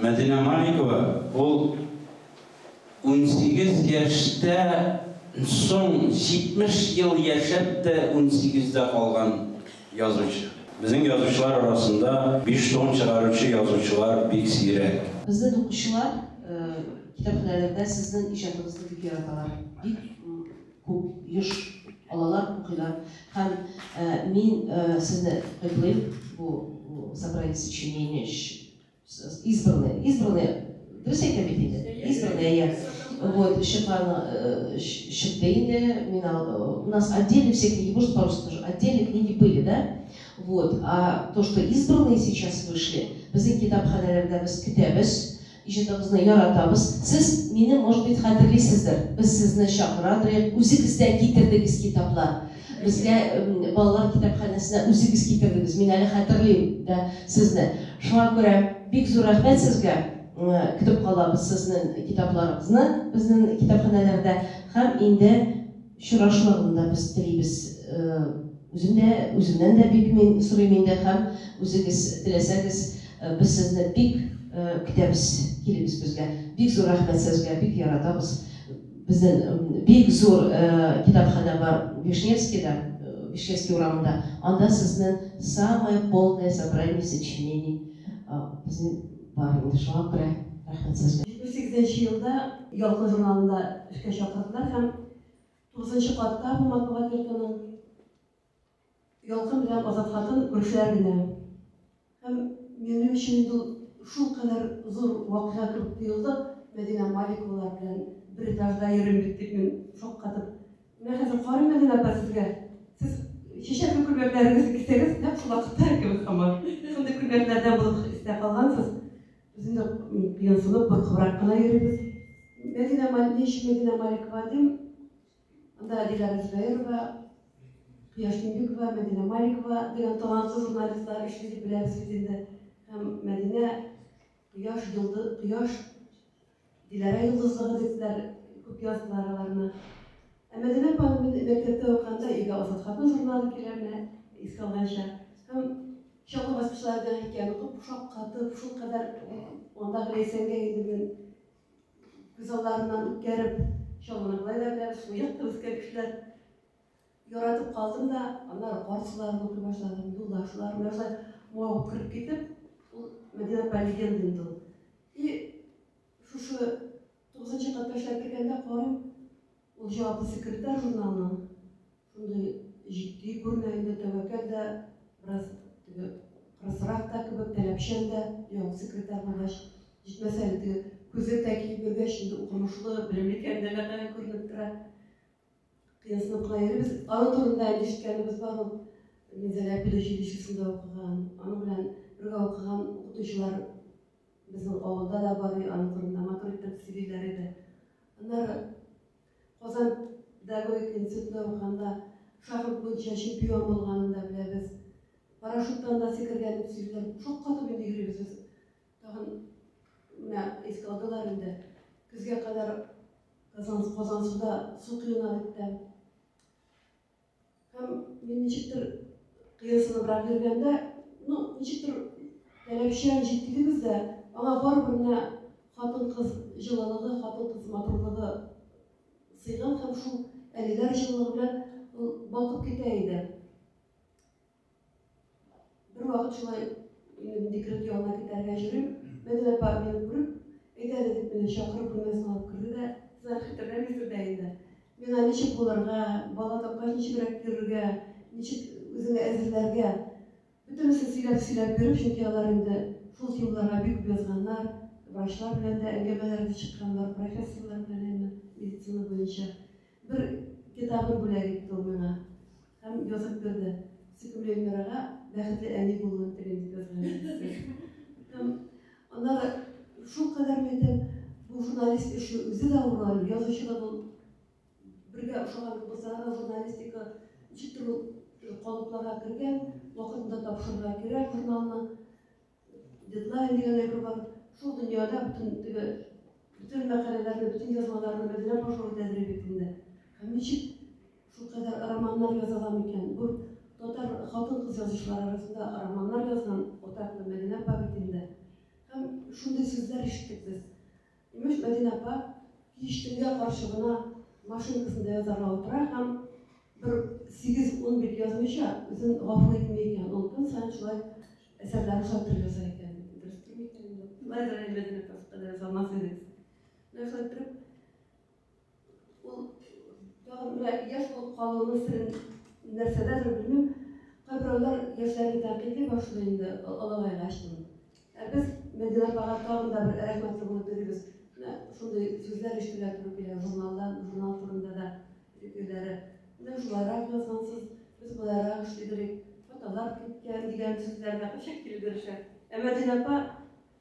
Мәдинә Маликова ул унсигез яшьтә н соң җитмеш ел яшәп тә унсигездә калган язучы. Безнең язучылар арасында биш том чыгаручы язучылар бик сирәк. Безнең укучылар китапханәләрдә сезнең иҗатыгызны бик яраталар, бик. Күп, еш алалар, укыйлар һәм мин сезне котлыйм бу собрание сочинений өчен. Избранный, избранный, дөрес әйтәм бит инде? Избранный, әйе. Вот, чыккан, чыкты инде, мин, у нас отдельно все книги, может, по-русски тоже, отдельно книги были, да? Вот, а то, что избранные сейчас вышли, безнең китапханәләрдә без көтәбез, Иҗатыгызны яратабыз. Сез, мине, может быть, хәтерлисездер. Без сезне чакырадырыйк, үзегез дә китердегез китаплар. Безгә балалар китапханәсенә үзегез китердегез. Мин әле хәтерлим дә сезне. Шуңа күрә бик зур рәхмәт сезгә. Көтеп калабыз сезнен китапларыгызны безнен китапханәләрдә һәм инде. чырашларын да без телибез. Үзем дә, үземнән дә бик мин сорыйм инде һәм үзегез теләсәгез, без сезне бик көтәбез, килегез безгә. Бик зур рәхмәт сезгә, бик яратабыз. Безнен бик зур китапханә бар Вишневскийда, Вишневский урамында. Анда сезнен самое полное собрание сочинений безнен. Бар инде шуңа күрә рәхмәт сезгә. Җитмеш сигезенче елда Ялкын журналында эшкә чакырдылар һәм тугызынчы катта бу матбугат йортының Ялкын белән Азат хатын күршеләр генә. Һәм минем өчен инде ул шулкадәр зур вакыйга кебек тоелды, Мәдинә Маликовалар белән бер этажда йөрим бит дип мин шаккатып Менә хәзер карыйм әле апа сезгә. Сез чәчәкле күлмәкләрегезне кисәгез, нәкъ шул вакытта икән сыман. Шундый күлмәкләрдән булып истә калгансыз. Без инде кыенсынып, куркыбрак кына йөрибез. Мәдинә Малик, ни өчен Мәдинә Маликова дим? Анда Диләрә Зөбәерова, Кояш Тимбикова, Мәдинә Маликова дигән талантлы журналистлар эшли дип беләбез бит инде. Һәм Мәдинә Кояш, йолды, кояш, Диләрә йолдызлыгы дистеләр күп яздылар аларны. Ә Мәдинә апаны мин мәктәптә укыганда өйгә Азат хатын журналы килерне искә алганча. Һәм чаллы баскычлары дигән хикәяне укып шаккатып, шул кадәр андагы Ләйсәнгә инде мин күз алларыннан үткәреп, чаллыны болай да беләбез, шул якта үскән кешеләр. Яратып калдым да, аннары картларын укый башладым, юлдашлар, менә шулай мавып кереп китеп, ул Мәдинә апа легенда инде ул. И шушы тугызынчы катта эшләп кергәндә карыйм, ул җаваплы секретарь журналының шундый җитди күренә инде, тәвәккәл дә, бераз теге кырысрак та кебек, таләпчән дә, яу секретарь булгач, җитмәсә әле теге күзлек тә киеп йөргәч, инде укымышлы, белемле икәнлеге күренеп тора. Пьесаны кая йөрибез? Аның турында инде ишеткәнебез бар ул. Минзәлә педучилищесында укыган, аның белән бергә укыган укытучылар безнең авылда да бар, аның турында матур итеп сөйлиләр иде. Аннары Казан педагогика институтында укыганда шахмат буенча чемпион булганын да беләбез. Парашюттан да сикергән дип сөйлиләр. Шаккатып инде йөрибез без. Тагын менә искә алдылар инде. Көзгә кадәр Казан, Казансуда су коена бит тә. Һәм мин ничектер кыерсыныбрак йөргәндә, ну, ничектер таләпчән җитдилебез дә, аңа барыбер менә хатын-кыз җылылыгы, хатын-кыз матурлыгы сыйган һәм шул әлиләр җылылыгы белән ул балкып китә иде. Бер вакыт шулай мин декрет ягына китәргә йөрим. Мәдинә апа мине күреп, әйдә әле дип мине чакырып бүлмәсенә алып керде дә, сез әле хәтерләмисез дә инде. Миңа ничек булырга, бала тапкач ничегрәк йөрергә, ничек үзеңне әзерләргә, бөтенесен сөйләп-сөйләп биреп, чөнки алар инде шул темаларга бик күп язганнар, врачлар белән дә әңгәмәләр дә чыкканнар, профессорлар белән әмма медицина буенча. Бер китабын бүләк итте ул миңа һәм язып бирде. Сөйкемле Эльмирага бәхетле әни булуын телим дип язган идегез. Һәм аннары шул кадәр мәйтәм, бу журналист эше үзе дә авыр әле, язучы да бул бергә ошаган кыбызлар да журналистика ничектер ул калыпларга кергән, вакытында тапшырырга кирәк журналны. Дедлайн дигән әйбер бар. Шул дөньяда бөтен теге бөтен мәкаләләрне, бөтен язмаларны Мәдинә Пашова тәзриб итенде. Һәм ничек шул кадәр романнар яза ала микән? Бу татар хатын-кыз язучылары арасында романнар язган атаклы Мәдинә апа бит инде. Һәм шундый сүзләр ишеттек без. Имеш, Мәдинә апа кич төнгә каршы гына машинкасында язарга утыра һәм бер сигез-ун бит язмыйча үзен гафу итми икән. Ул көн саен шулай әсәрләрен шалтырып яза икән. Дөрестер микән инде? Шулайдыр әле, Мәдинә апа, сез кадәр яза алмас идегез. Менә шулай иттереп, Ул ягымлы яшь булып калуының серен нәрсәдәдер, белмим, кайберәүләр яшьләрне тәнкыйтьли башлый инде олыгайгач ди. Ә без Мәдинә апага тагын да бер рәхмәтле булып йөрибез. Менә шундый сүзләр ишетергә туры килә журналдан, журнал турында да фикерләре. Менә шулайрак язгансыз, без болайрак эшли белик, хаталар киткән дигән сүзләр дә кайчак килеп ирешә. Ә Мәдинә апа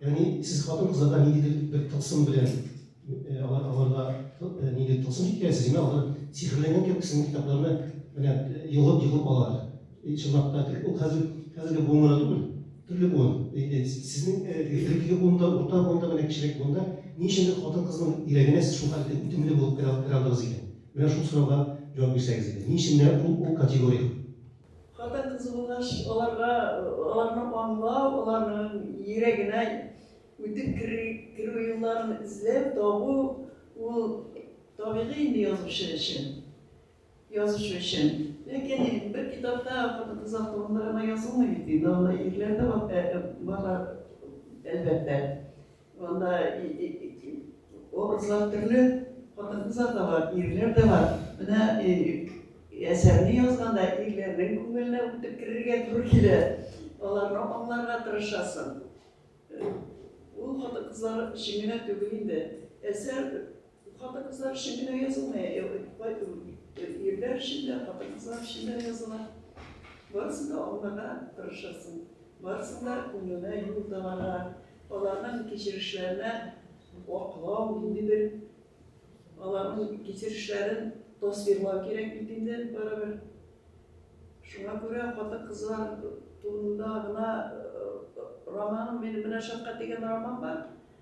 Ягъни сез хатын-кызларда ниндидер бер тылсым белән алар аларда ниндидер тылсым җиткерәсез, менә алар сихерләнгән кебек сезнең китапларны менә йогып-йогып алалар. Чынлап та ул хәзер хәзерге буыннарда түгел, төрле буын. Инде сезнең элеккеге буында, урта буында, менә кечерәк буында ни өчендер хатын-кызның йөрәгенә сез шул хәтле үтемле булып керә алдыгыз икән? Менә шул сорауга җавап бирсәгез иде. Ни өчен менә ул категория? Хатын-кыз булгач, аларга, аларны аңлау, аларның йөрәгенә үтеп керү, керү юлларын эзләп табу, ул табигый инде язучы өчен. Язучы өчен. Ләкин бер китапта хатын-кызлар турында гына язылмый бит инде, анда ирләр дә барлар, әлбәттә. Анда образлар төрле, хатын-кызлар да бар, ирләр дә бар. Менә әсәрне язганда ирләрнең күңеленә үтеп керергә туры килә. Аларны аңларга тырышасың. Ул хатын-кызлар өчен генә түгел инде. Әсәр Хатын-кызлар өчен генә язылмый, ирләр өчен дә, хатын-кызлар өчен дә языла. Барысын да аңларга тырышасың, барысын да күңеленә юл табарга, аларның кичерешләренә аклау, ниндидер аларның кичерешләрен тасвирлау кирәк бит инде барыбер. Шуңа күрә хатын-кызлар турында гына романым, минем менә шәфкать дигән роман бар.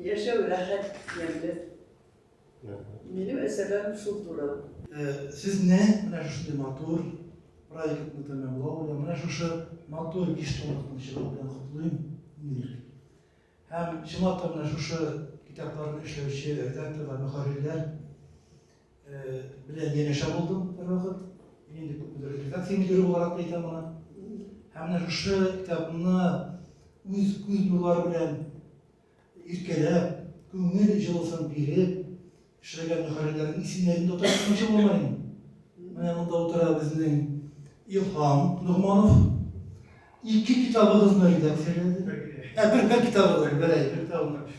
Яшәү рәхәт, ямьле. Минем әсәрләрем шул туры. Сезне менә шушындый матур проектны тәмамлау белән, менә шушы матур биш томлыкны чыгару белән котлыйм, Нир. Һәм чынлап та менә шушы китапларны эшләүче редакторлар, мөхәррирләр белән янәшә булдым бервакыт. Мин инде күпмедер редакция мөдире буларак та әйтәм аны. Һәм менә шушы китапны үз күз нурлары белән иркәләп, күңел җылысын биреп, эшләгән мөхәррирләрнең исемнәрен дә ташламакчы булмыйм. Менә монда утыра безнең Илһам Нугманов. Ике китабыгызны редакцияләде. Ә бер бер китабыгызны, бер әй, бер китабыгызны.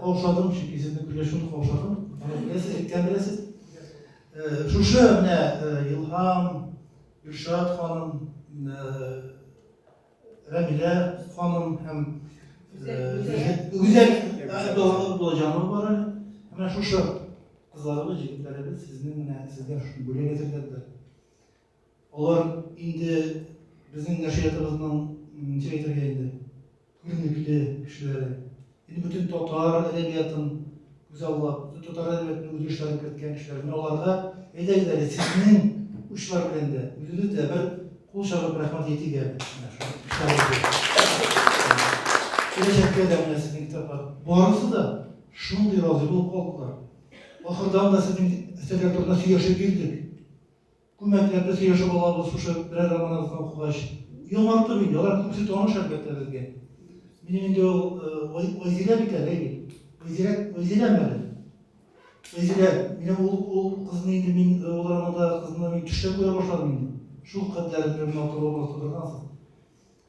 Каушадым, чөнки сезнең көнләшүне каушадым. Беләсез, әйткән беләсез. Шушы менә Илһам, Илшат ханым, Рәмилә ханым һәм Гүзәл Әбдуллаһов булачагы бар әле. Менә шушы кызларыбыз, җегетләребез сезнең менә сезгә шуны бүләк әзерләделәр. Алар инде безнең нәшриятыбызның, ничек әйтергә инде, күренекле кешеләре. Инде бөтен татар әдәбиятын күзаллап, бөтен татар әдәбиятының үзгәрешләрен керткән кешеләр. Менә аларга әйдәгез әле сезнең учлар белән дә, үзегез дә бер кул чабып рәхмәт әйтик әле. Менә шул китапларыбыз. Киләчәккә дә менә сезнең китаплар. Барысы да шундый разый булып калдылар. Ахырдан да сезнең әсәрләр турында сөйләшеп йөрдек. Күмәкләрне сөйләшеп алабыз шушы берәр романыгызны укыгач. Яңартып инде, алар күбесе таныш әлбәттә безгә. Минем инде ул Айзилә бит әле, әйе. Айзилә, Айзиләме әле? Айзилә, менә ул, ул кызны инде мин, ул романда кызны мин төштә күрә башладым инде. Шул кадәр бер матур образ тудыргансыз.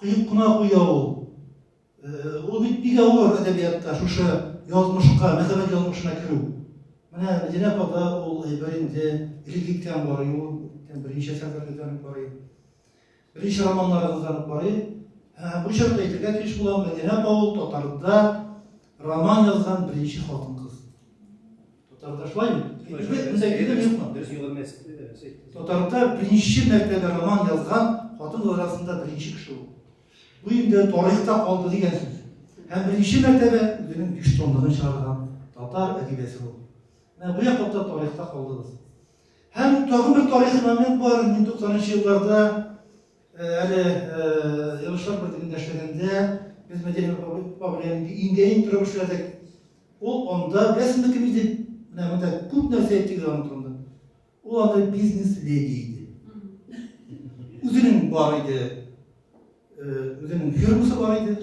Коеп кына куя ул. Ул бит бик авыр әдәбиятта шушы язмышка, мәхәббәт язмышына керү. Менә Мәдинә апада ул әйбер инде элек киткән барый ул, берничә сәфәрләрдән үк барый. Берничә романнарыгыздан үк барый. Һәм бу чакта әйтергә тиеш булам, Мәдинә апа ул татарда роман язган беренче хатын-кыз. Татардашлайм. Татарда беренче мәртәбә роман язган хатын арасында беренче кеше ул. Бу инде тарихта калды дигән сүз. Һәм беренче мәртәбә үзенең биш томлыгын чыгарган татар әдибәсе ул. Менә бу яклыкта тарихта калдыгыз. Һәм тагын бер тарихи момент бар, 1990 елларда Әле Илшат бертегендә эшләгәндә без Мәдинә апа белән инде иңгә-иң торып эшләдек. Ул анда безнекеме дип, менә монда күп нәрсә әйтте аның турында. Ул анда бизнес-леди иде. Үзенең бар иде, үзенең фирмасы бар иде.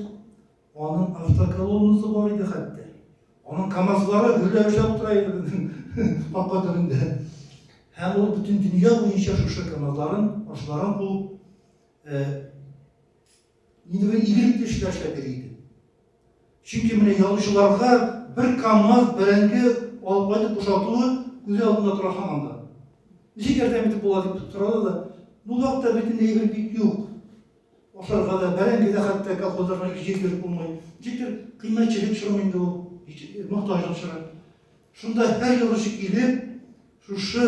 Аның автоколоннасы бар иде хәтта. Аның КАМАЗлары гөрләп эшләп тора иде безнең капка төбендә. Һәм ул бөтен дөнья буенча шушы КАМАЗларын, машиналарын куып, инде бер игелекле эшләр эшләп йөри иде. Чөнки менә ялучыларга бер КАМАЗ бәрәңге алып кайтып бушатуы күзе алдында тора һаман да. Ничек ярдәм итеп була дип сорады да, ну вакытта бит инде әйбер бик юк. Ашарга да, бәрәңге дә хәтта колхозларга ике җир биреп булмый. Ничектер кыйммәтчелек чоры инде ул, мохтаҗлык чоры. Шунда һәр язучы килеп, шушы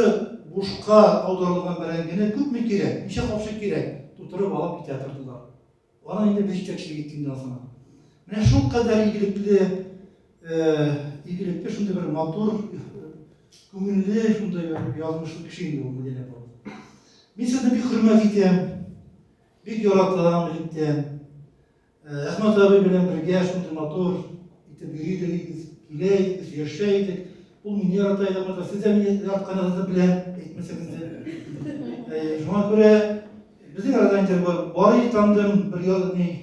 бушка аударылган бәрәңгене күпме кирәк, ничә капчык кирәк, тутырып алып китә тордылар. Аны инде без җитәкчелек иткәндән соң. Менә шул кадәр игелекле Игелекле шундый бер матур, күңелле шундый бер язмышлы кеше инде ул Мадинә апа. Мин сезне бик хөрмәт итәм, бик яратам электән. Әхмәт абый белән бергә шундый матур итеп йөри идегез, килә идегез, яшә идек. Ул мине ярата иде, Әхмәт сез дә мине яратканыгызны беләм, әйтмәсәгез дә. Шуңа күрә безнең арада инде бар тандым, бер язмый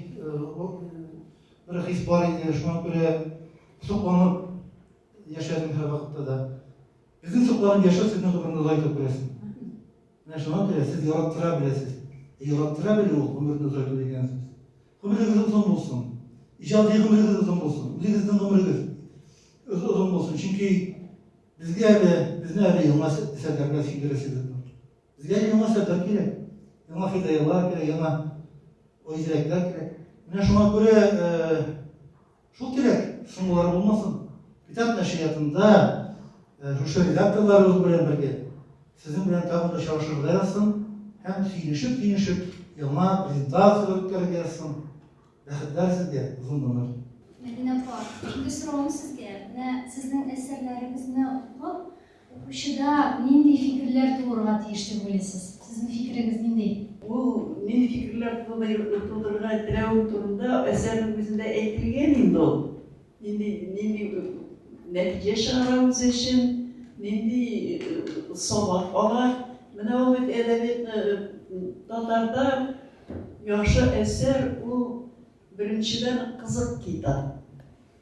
Бер хис бар иде, шуңа күрә сокланып яшәдем һәрвакытта да. Безнең сокланып яшәү сезнең гомерне озайта күрәсең. Менә шуңа күрә сез яраттыра беләсез. Яраттыра белү ул гомерне озайту дигән сүз. Гомерегез озын булсын. Иҗади гомерегез озын булсын. Үзегезнең гомерегез озын булсын. Чөнки безгә әле, безне әле яңа әсәрләргә сөендерәсегез. Безгә яңа сәбәп кирәк. Яңа хидайлар кирәк, яңа үзрәкләр кирәк. Менә шуңа күрә э, шул кирәк, соңгылары булмасын. Китап нәшриятында э, шушы редакторларыбыз белән бергә сезнең белән тагын да чагышырга язсын һәм сөйлешеп-сөйлешеп яңа презентацияләр үткәрергә язсын. Рәхәтләр сезгә, озын гомер. Мәдинә апа, инде сорауым сезгә. Менә сезнең әсәрләрегезне укып, Укучыда нинди фикерләр тууырга тиеш дип уйлыйсыз? Сезнең фикерегез нинди? Ул нинди фикерләр тудырырга теләве турында әсәрнең үзендә әйтелгән инде ул. Нинди, нинди нәтиҗә чыгара үзе өчен, нинди сабак ала. Менә ул бит әдәбиятны татарда яхшы әсәр ул беренчедән кызык китап.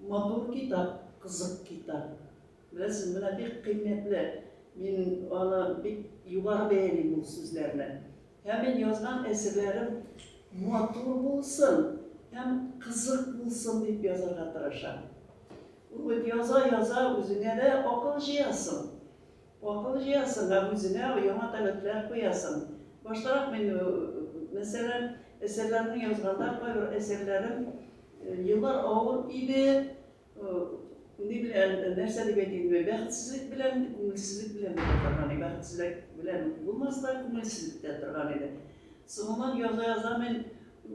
Матур китап, кызык китап. Беләсез, менә бик кыйммәтле. Мин аны бик югары бәялим ул сүзләрне. Һәм мин язган әсәрләрем матур булсын һәм кызык булсын дип язарга тырышам. Ул бит яза-яза үзеңә дә акыл җыясың. Акыл җыясың һәм үзеңә яңа таләпләр куясың. Баштарак мин, мәсәлән, әсәрләрне язганда, кайбер әсәрләрем еллар авыр иде, ни белән, нәрсә дип әйтим, бәхетсезлек белән, күңелсезлек белән бетә торган иде. Бәхетсезлек белән булмас та, күңелсез бетә торган иде. Соңыннан яза-яза мин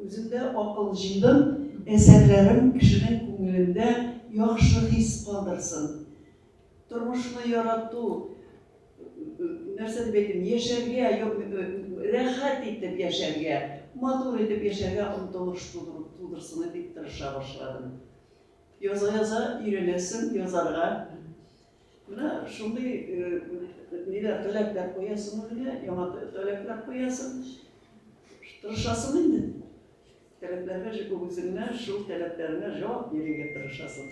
үземдә акыл җыйдым, әсәрләрем кешенең күңелендә яхшы хис калдырсын. Тормышны ярату, нәрсә дип әйтим, яшәргә, рәхәт итеп яшәргә, матур итеп яшәргә омтылыш тудырсын дип тырыша башладым. Яза-яза өйрәнәсең язарга. Менә шундый ниләр таләпләр куясың үзеңә, яңа таләпләр куясың. Тырышасың инде. Таләпләргә җип үзеңә, шул таләпләреңә җавап бирергә тырышасың.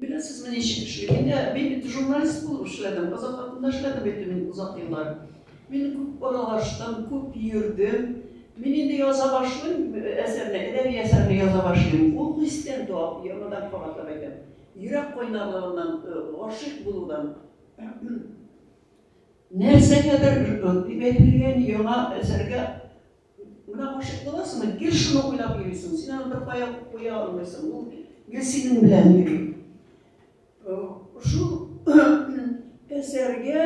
Беләсезме, ничек эшли? Инде мин бит журналист булып эшләдем, Азатлыкта эшләдем бит мин озак еллар. Мин күп аралаштым, күп йөрдем. Мин инде яза башлыйм әсәрне, әдәби әсәрне яза башлыйм. Ул хистән туа, яңадан кабатлап әйтәм. Йөрәк кайнарлыгыннан, гашыйк булудан. Нәрсәгәдер, дип әйтелгән яңа әсәргә Менә гашыйк буласың да, гел шуны уйлап йөрисең. Син аны беркая куя алмыйсың. Ул гел синең белән йөри. Шул әсәргә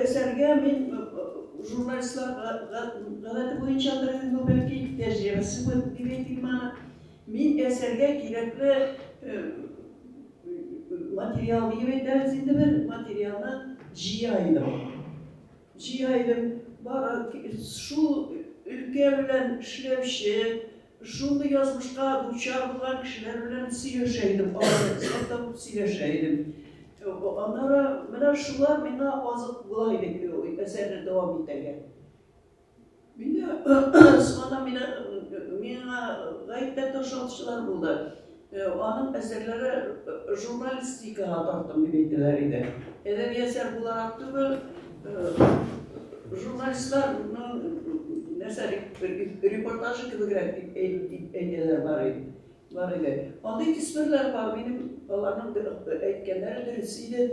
әсәргә мин журналистлар гадәте буенчадыр инде бәлки тәҗрибәсе булып дип әйтимме, мин әсәргә кирәкле материал дип әйтәбез инде бер материалны җыя идем. Җыелып бара шул өлкә белән эшләүче, шундый язмышка дучар булган кешеләр белән сөйләшә идем, алар табып сөйләшә идем. Аннары менә шулар миңа азык була иде әсәрне дәвам итәргә. Мине сынаган мине миңа гаепләп ташлаучылар булды. Аның әсәрләре журналистикага тартым дип әйтәләр иде. Әдәби әсәр буларак түгел, журналистларның нәрсә репортажы кебегрәк дип әйтәләр бар иде. Бар иде. Андый төсмерләр бар, минем аларның әйткәннәре дөрес иде.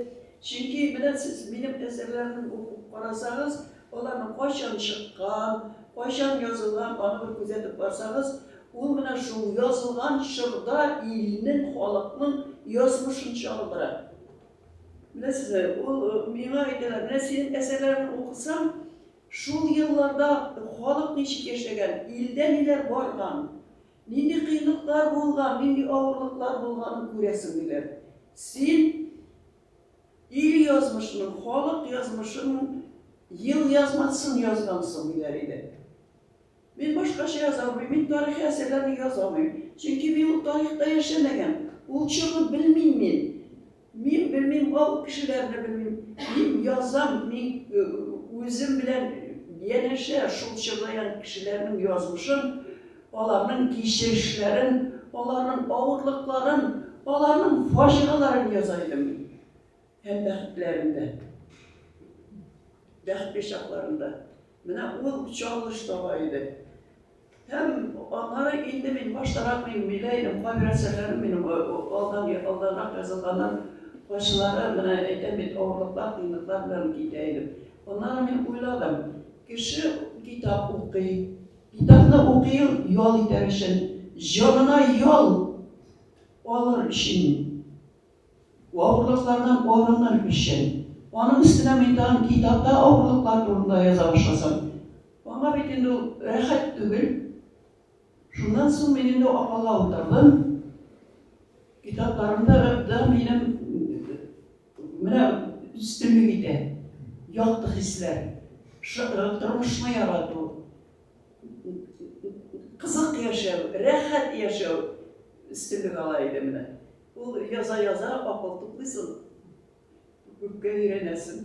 Чөнки менә сез минем әсәрләрне укып карасагыз, Аларның кайчан чыккан, кайчан язылган, аны бер күзәтеп барсагыз, ул менә шул язылган чорда илнең, халыкның язмышын чагылдыра. Беләсезме, ул миңа әйтәләр, менә синең әсәрләреңне укысам, шул елларда халык ничек яшәгән, илдә ниләр барган, нинди кыенлыклар булган, нинди авырлыклар булганын күрәсең, диләр. Син. Ил язмышының, халык язмышының ел язмасын язгансың, диләр иде. Мин башкача яза алмыйм, мин тарихи әсәрләрне яза алмыйм. Чөнки мин ул тарихта яшәмәгән, ул чорны белмим мин. Мин белмим, ул кешеләрне белмим. Мин язам, мин үзем белән янәшә шул чорда янә кешеләрнең язмышын, Аларның кичерешләрен, аларның авырлыкларын, аларның фаҗигаларын яза идем мин. Һәм бәхетләрен дә. Бәхетле чакларын да. Менә ул чагылыш таба иде. Һәм аннары инде мин баштарак мин белә идем, кайбер әсәрләрем минем алдан алданрак язылганнар. Кайсылары менә әйтәм бит, авырлыклар, кыенлыклар белән китә идем. Аннары мин уйладым, кеше китап укый, Китапны укыйр ял итәр өчен, җанына ял алыр өчен, авырлыклардан арыныр өчен. Аның өстенә мин тагын китапта авырлыклар турында яза башласам, аңа бит инде ул рәхәт түгел. Шуннан соң мин инде акылга утырдым. Китапларымда да минем Менә өстенлек итә. Якты хисләр. Тормышны ярату. Кызык яшәү, рәхәт яшәү өстенлек ала иде менә. Ул яза-яза акыл туплыйсың. Күпкә өйрәнәсең.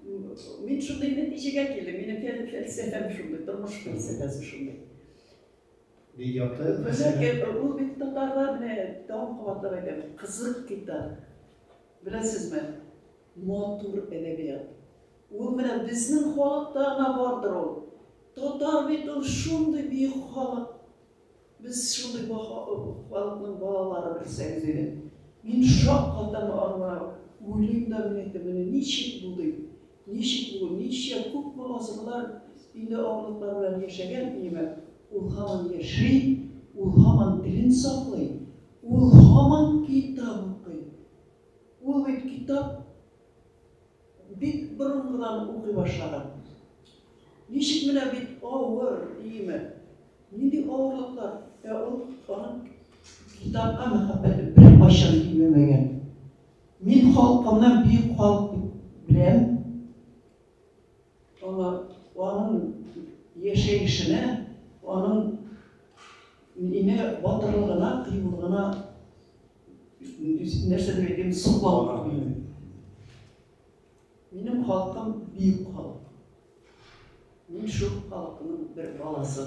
Мин шундый нәтиҗәгә килдем, минем фән фәлсәфәм шундый, тормыш фәлсәфәсе шундый. Бик якты. Ләкин ул бит татарлар менә тагын кабатлап әйтәм, кызык китап. Беләсезме? Матур әдәбият. Ул менә безнең халыкта гына бардыр ул. Татар бит ул шундый бөек халык. Без шундый баһа халыкның балалары белсәгез иде. Мин шаккатам аңа, уйлыйм да мин әйтәм, менә ничек бу ди, ничек бу, ничә күпме гасырлар инде авырлыклар белән яшәгән иемәк, ул һаман яши, ул һаман телен саклый, ул һаман китап укый. Ул бит китап. Бик борынгыдан укый башлаган. Ничек менә бит авыр, иеме? Нинди авырлыклар? Ә ул аның китапка мәхәббәте беркайчан кимемәгән. Мин халкымны бөек халык дип беләм. Аңа, аның яшәешенә, аның ине батырлыгына, кыюлыгына нәрсәдер әйтәм, соклау күңелен. Минем халкым бөек халык. Мин шул халыкның бер баласы.